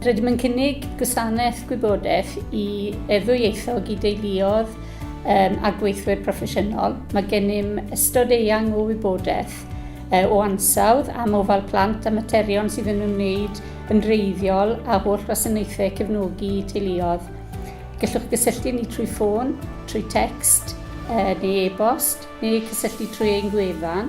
Rydym yn cynnig gwasanaeth gwybodaeth i e-ddwyieithog i deuluodd um, a gweithwyr proffesiynol. Mae gennym ystod eang o wybodaeth uh, o ansawdd am ofal plant a materion sydd yn ymwneud yn reiddiol a holl wasanaethau cefnogi teuluodd. Gallwch gysylltu ni trwy ffôn, trwy text, uh, neu e-bost, neu cysylltu trwy ein gwefan.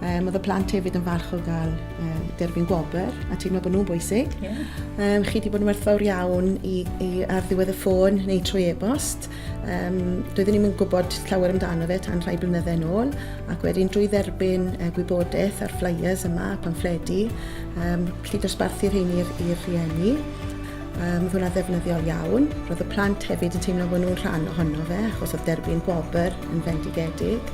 Um, oedd y plant hefyd yn falch o gael um, derbyn gwobr a teimlo bod nhw'n bwysig. Yeah. Um, chi wedi bod yn werthfawr iawn i, i ar ddiwedd y ffôn neu trwy e-bost. Um, doeddwn ni'n gwybod llawer amdano fe tan rhai blynydde yn ôl ac wedyn drwy dderbyn uh, gwybodaeth ar flyers yma, pamffledi, um, chi dosbarthu'r hyn i'r rhieni. Um, oedd hwnna ddefnyddiol iawn. Roedd y plant hefyd yn teimlo bod nhw'n rhan ohono fe, achos oedd derbyn gwobr yn fendigedig.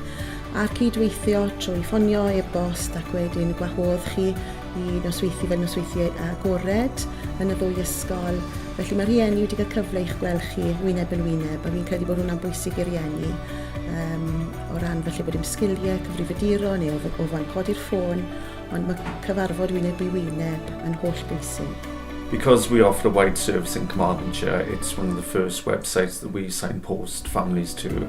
A'r cydweithio trwy ffonio, e-bost ac wedyn gwahodd chi i nosweithi fel nosweithi agored yn y ddwy ysgol. Felly mae rhieni wedi cael cyfle i'ch gweld chi wyneb yn wyneb a fi'n credu bod hwnna'n bwysig i rieni um, o ran felly bod dim sgiliau cyfrifyduro neu o, o fan codi'r ffôn ond mae cyfarfod wyneb i wyneb yn holl bwysig. Because we offer a wide service in Carmarthenshire, it's one of the first websites that we signpost families to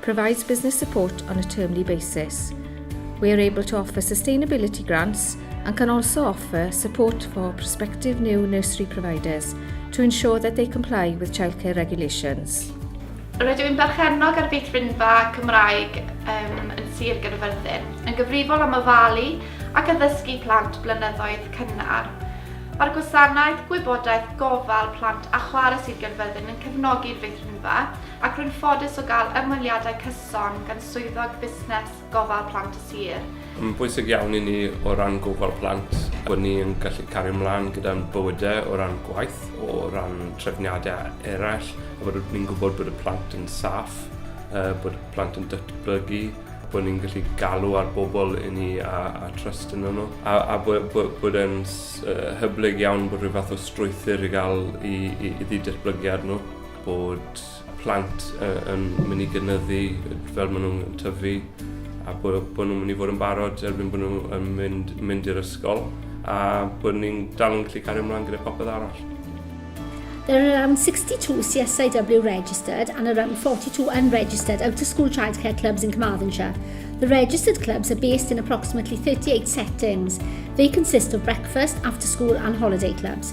provides business support on a termly basis. We are able to offer sustainability grants and can also offer support for prospective new nursery providers to ensure that they comply with childcare regulations. Rydw i'n berchennog ar feithrinfa Cymraeg um, yn Sir Gyrfyrddin, yn gyfrifol am ofalu ac addysgu plant blynyddoedd cynnar. Mae'r gwasanaeth gwybodaeth gofal plant a chwarae Sir Gyrfyrddin yn cefnogi'r feithrinfa ac rwy'n ffodus o gael ymweliadau cyson gan Swyddog Busnes Gofal Plant y Sir. Mae'n bwysig iawn i ni o ran gofal plant bod ni yn gallu cario ymlaen gyda'n bywydau o ran gwaith, o ran trefniadau eraill, a bod ni'n gwybod bod y plant yn saff, bod y plant yn datblygu, bod ni'n gallu galw ar bobl i ni a, a trust yn nhw, a, a bod, bod, bod yn hyblyg iawn bod rhyw fath o strwythyr i gael i, i, i ddatblygiad nhw. bod plant yn mynd i gynyddu fel maen nhw'n tyfu a bod, bod nhw'n mynd i fod yn barod erbyn bod nhw'n mynd, mynd i'r ysgol a bod ni'n dal yn gallu cario ymlaen gyda popeth arall. There are around 62 CSIW registered and around 42 unregistered out-of-school childcare clubs in Carmarthenshire. The registered clubs are based in approximately 38 settings. They consist of breakfast, after school and holiday clubs.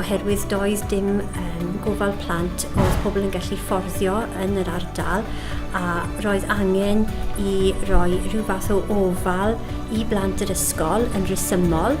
oherwydd doedd dim um, gofal plant oedd pobl yn gallu fforddio yn yr ardal a roedd angen i roi rhyw fath o ofal i blant yr ysgol yn rhesymol